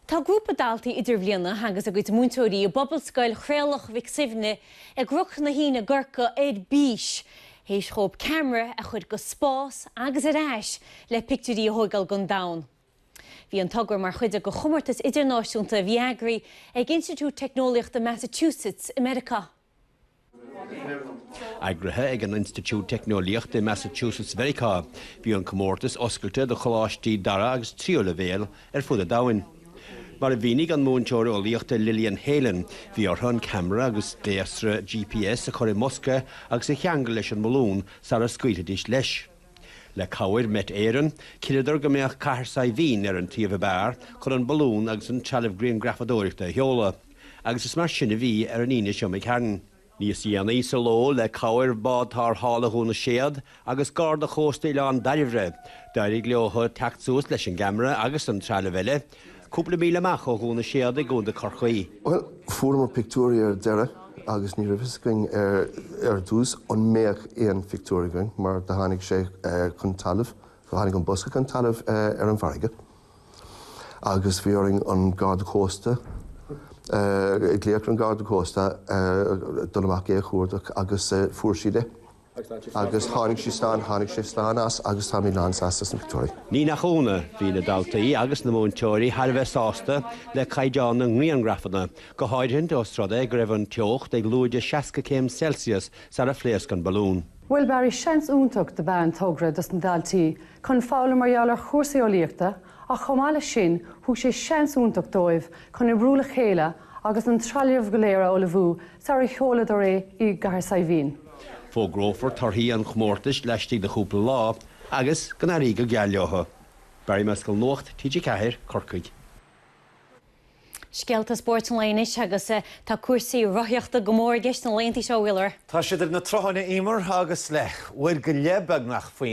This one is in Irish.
Tá grúpa daltaí idirbhliana agus a gcuid múinteoirí i bPobalscoil Thraolach Mhic Suibhne i gCnoc na hAoine i gCorcaigh ar bís théis dhóibh ceamara a chuir go spás agus ar ais le pictiúirí a thógáil den domhan. Bhí an togra mar chuid de chomórtas idirnáisiúnta a bhí eagraithe ag Institiúid Teicneolaíochta Massachusetts i Meiriceá. Eagraithe ag an Institiúid Teicneolaíochta i Massachusetts Mheiriceá, bhí an comórtas oscailte do choláistí dara agus tríú leibhéal ar fud an domhain. Mar a mhínigh an múinteoir eolaíochta Lillian Heylin, bhí orthu an ceamara agus gléasra GPS a chur i mbosca agus a cheangal leis an mbalún sara scaoilfidís leis. Le cabhair Met Éireann, chinneadar go mbeadh Cathair Saidhbhín ar an suíomh ab fhearr chun an balún agus an trealamh grianghrafadóireachta a sheoladh, agus is mar sin a bhí ar an Aoine seo imigh tharainn. Níos déanaí sa ló, le cabhair bád tarrthála Dhún na Séad agus Garda Chósta Oileán Dairbhre, d'éirigh leo teacht suas leis an gceamara agus an trealamh eile, Cúpla míle amach ó Dhún na Séad i gContae Corcaí. Bhuel, fuaireamar pictiúirí ar deireadh agus ní raibh fhios againn ar dtús an mbeadh aon phictiúir againn mar do tháinig sé chun talaimh, do tháinig an bosca chun talaimh ar an bhfarraige agus bhí orainn an Garda Cósta, glaoch ar an Garda Cósta dul amach é a chuardach agus fuair siad é. Agus tháinig sí slán, tháinig sé slán as agus táimid lánsásta as an pictiúr. Ní nach ionadh, bhí na daltaí agus na múinteoirí thar a bheith sásta le caighdeán na ngrianghrafanna, go háirithint os rud é go raibh an teocht ag lúide 60 céim Celsius sar a phléasc an balún. Bhuel, ba sheans iontach ab ea an togra dos na daltaí chun foghlaim mar gheall ar chúrsaí eolaíochta Ach chomh maith leis sin, thug sé seans iontach dóibh chun oibriú le chéile agus an trealamh go léir a ullmhú sarar sheoladar é i gCathair Saidhbhín. Fógrófar torthaí an chomórtais laistigh de chúpla lá agus, go n-éirí go geal leo. Barry Mescall Nuacht TG4, Corcaigh. Scéalta spóirt an lae anois agus tá cúrsaí rothaíochta go mór i gceist na laethanta seo, a Mhíchíl. Tá siad ar na rothair, a Eimear, agus le Vuelta Ciclista beagnach faoi.